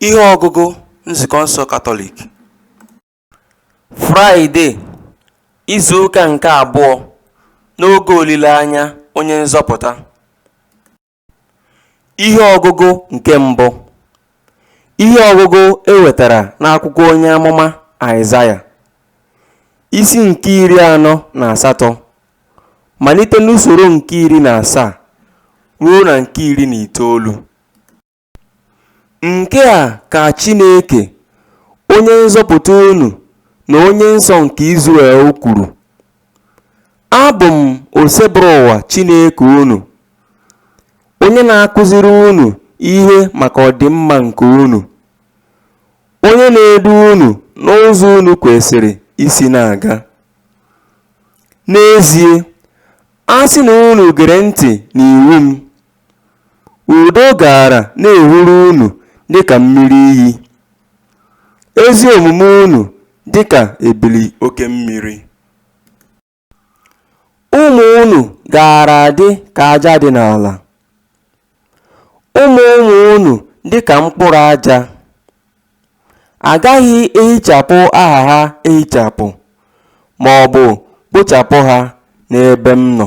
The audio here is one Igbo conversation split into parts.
Ihe ọgụgụ Nzukọ nsọ Katọlik Fraịde izu ụka nke abụọ n'oge olileanya onye nzọpụta Ihe ọgụgụ nke mbụ Ihe ọgụgụ e wetara n'akwụkwọ onye amụma Aịzaya isi nke iri anọ na asatọ malite n'usoro nke iri na asaa ruo na nke iri na itoolu. Nke a ka Chineke, Onye nzọpụta unu na Onye nsọ nke Izrel kwuru, Abụ m Osebụrụ ụwa Chineke unu, onye na-akụziri unu ihe maka ọdịmma nke unu, onye na-edu unu n'ụzọ unu kwesịrị isi na-aga. N'ezie, a sị na unu gere ntị n'iwu m, Udo gaara na-ehuru unu dị ka mmiri iyi, ezi omume unu dị ka ebili oke mmiri. Ụmụ unu gaara adị ka aja dị n'ala, ụmụ ụmụ unu dị ka mkpụrụ aja. A gaghị ehichapụ aha ha ehichapụ, ma ọ bụ kpochapụ ha n'ebe m nọ.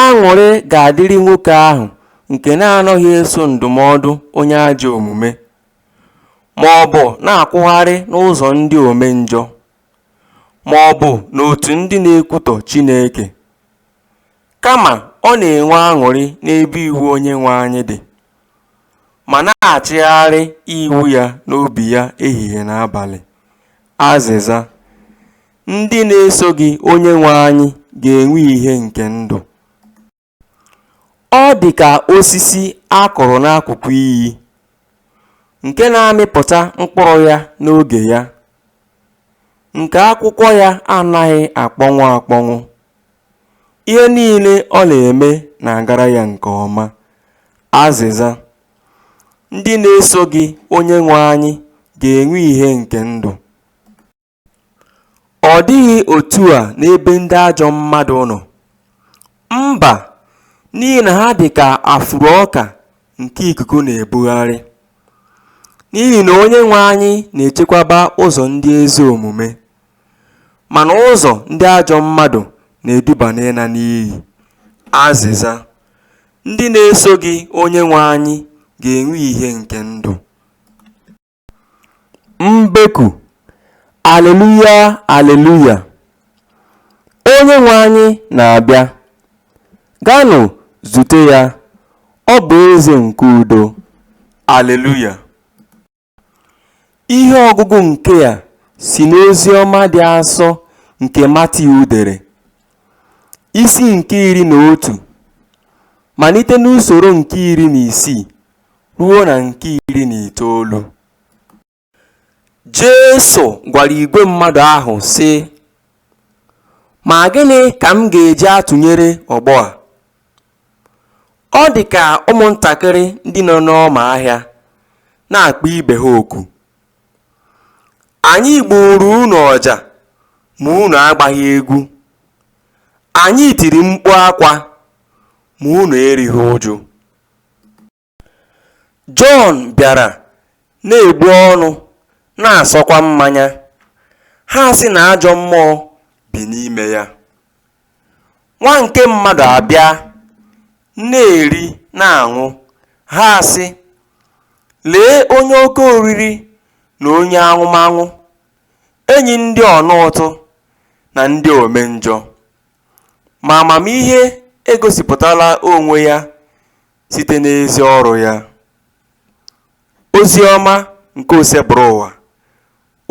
Aṅụrị ga-adịrị nwoke ahụ nke na-anaghị eso ndụmọdụ onye ajọ omume, ma ọ bụ na-akwụgharị n'ụzọ ndị omenjọ, ma ọ bụ n'otu ndị na-ekwutọ Chineke. Kama ọ na-enwe aṅụrị n'ebe iwu Onyenwe anyị dị, ma na-achịgharị iwu ya n'obi ya ehihie na abalị. Azịza. Ndị na-eso gị Onyenwe anyị ga-enwe ihe nke ndụ. Ọ dị ka osisi a kụrụ n'akụkụ iyi nke na-amịpụta mkpụrụ ya n'oge ya, nke akwụkwọ ya anaghị akpọnwụ akpọnwụ. Ihe niile ọ na-eme na-agara ya nke ọma. Azịza, Ndị na-eso gị Onyenwe anyị ga-enwe ihe nke ndụ. Ọ dịghị otu a n'ebe ndị ajọ mmadụ nọ, mba, n'ihi na ha dị ka afụrụ ọka nke ikuku na-ebugharị. N'ihi na Onyenwe anyị na-echekwaba ụzọ ndị ezi omume, mana ụzọ ndị ajọ mmadụ na-eduba n'ịla n'iyi. Azịza, Ndị na-eso gị Onyenwe anyị ga-enwe ihe nke ndụ. Mbeku, Aleluya, Aleluya! Onyenwe anyị na-abịa! Gaanụ zute ya, ọ bụ eze nke udo! Aleluya! Ihe ọgụgụ nke a si n'ozi ọma dị asọ nke Matiu dere, isi nke iri na otu, malite n'usoro nke iri na isii. ruo na nke iri na itoolu Jesu gwara igwe mmadụ ahụ sị ma gịnị ka m ga-eji atụnyere ọgbọ a ọ dị ka ụmụntakịrị ndị nọ n'ọma ahịa na-akpọ ibe ha oku anyị gbuuru unu ọja ma unu agbaghị egwu anyị tiri mkpu akwa ma unu erighị uju Jọn bịara na-egbu ọnụ na-asọkwa mmanya, ha asị na ajọ mmụọ bi n'ime ya. Nwa nke mmadụ abịa na-eri na-aṅụ, ha asị, Lee onye oke oriri na onye aṅụmaṅụ, enyi ndị ọna ụtụ na ndị omenjọ. Ma amamihe egosipụtala onwe ya site n'ezi ọrụ ya. Ozi ọma nke Osebụrụwa,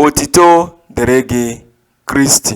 otito dịrị gị Kristi.